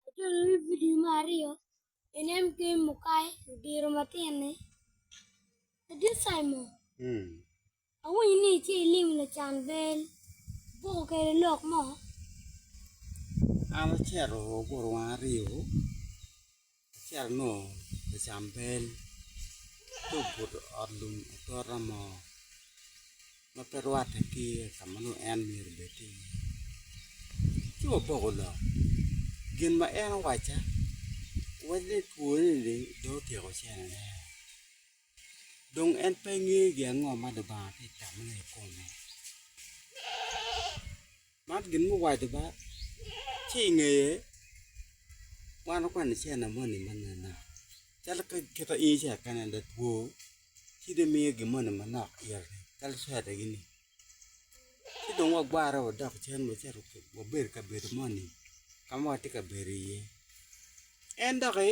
Atwero wi vidio me aryo, Inen Game Mukai Odiro Matin-ni. Ladit Simon, awinyo ni itye ilimo lacan bel boko kwede lok mo. An acito ogurowa aryo. Acito anongo lacam bel ci obuto ot lum atora mo ma pe rwatte ki ka ma nongo en myero obed tye iye ci wapoko lok gin ma en owacca wawaco ni twone ni dong otyeko cene ne. Dong en pe ngeyo gi ango ma Lubanga tye ka tammone i kome. Man gin ma owaco ba, ci i ngeye wan wakwano cene moni manena calo ka kit in ice ka en aye two ci dong imiyo gin moni manok ite calo cware gini ci dong wagwarre wadok cen wacito wabedo i kabedo moni ka ma watye ka bedo iye en doki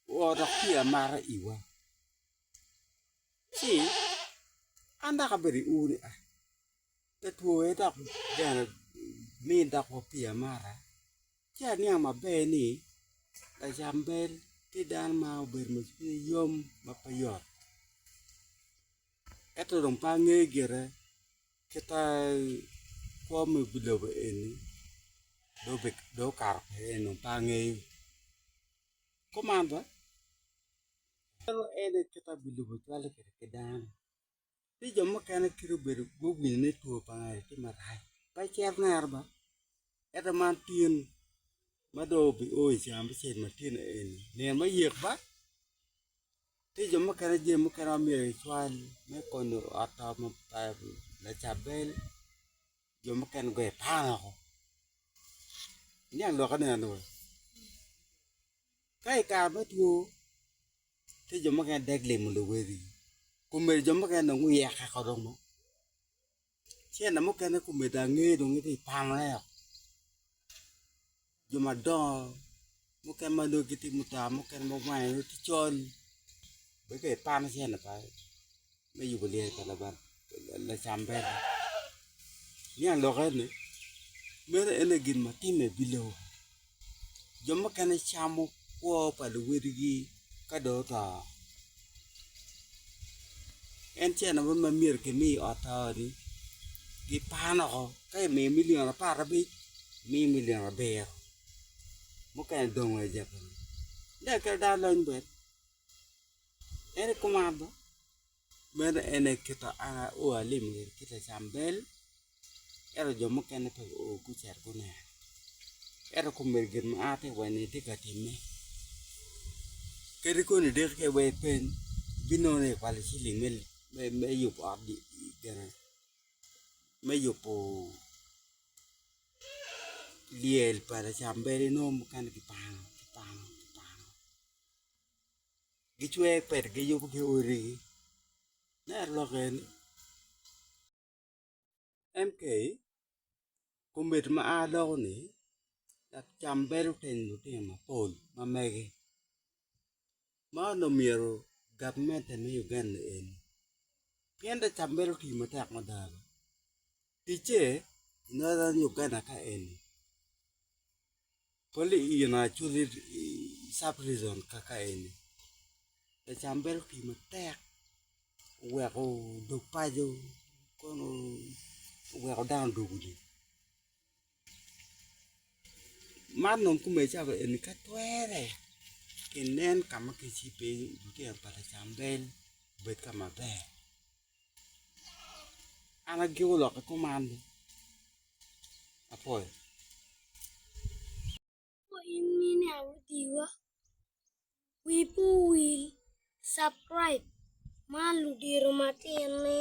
Woo dok ci amara iwa, ci an dok abedo i uri ai, pe twowe dok bene min dok wa pi amara, ci aniang maber ni Lacambel tye dano ma obedo ma cwinye yom ma pe yot, ento dong pe angeyo gire kita kwo me lobo eni dong okato kwede ento dong pe angeyo. Komanda, Meno en aye kite abilubo cwalle kwede ki dano. Tye jo mukene kite obedo guwinyo ni two pa ngat tye marac, pe icit nere ba. Ento man tin ma dong obio i cawa me cel matino eni, nino me yek ba. Tye jo mukene jami mukene ma myero kicwal me konyo ot to ma Lacabel jo mukene guye pan woko iniang lwokke nino ni weng ka i kare me two tye jo mukene dek limo luwegi kun myero jo mukene dong guyek eko dong. Cente mukene kumedde ange dong gitye i pameo jo madongo mukene ma nongo gitye mutaa mukene ma gwange nongo tye col bene ka ipano cente pa me yubo lyel pa Lubanga lacamber niang lok eni meno en aye gin ma timme i lobo. jo mukene camo kwo pa luwadigi ka dong oto en ce lamak ma myero kimi i ot pa oti gipaan woko ka imiyo milion apar abic gimiyi milion abiro mukene dong aja kunu dong kadi dano lony bene en aye kuman bo. Meno en aye kit ma an aoyo alim i ot ki Lacambel, ento jo mukene pe guo gucito guneno. Ento kome gin ma an atye ka wacci-ni atye ka timme. Kadi koni dek kene wa ipeny, ibinongo ni ikwalo ciling me yubo ot gin-ni, me yubo lyel pa Lacambel inongo mukene kipano kipano kipano. gicwer pet giyubo ki odi gi me aye lok en ni MK komiti ma a loko ni dok cam bedo teng lutino mapol ma mege ma onongo myero gavment me Uganda en pien dong cam bedo tii matek mada ticce i northern Uganda ka eni Pol i ina aculo i sub region kaka eni, lacam bedo pi matek oweko odog paco kono oweko dano odog udi. Man dong kume cawa eni ka twere kinen ka ma kicibo iye lutino pa lacambel obed ka maber. An agiko lok ki kuman ni apoyo. Ko in mine arudiwa, wi pe owil subcribe man ludito matin ni.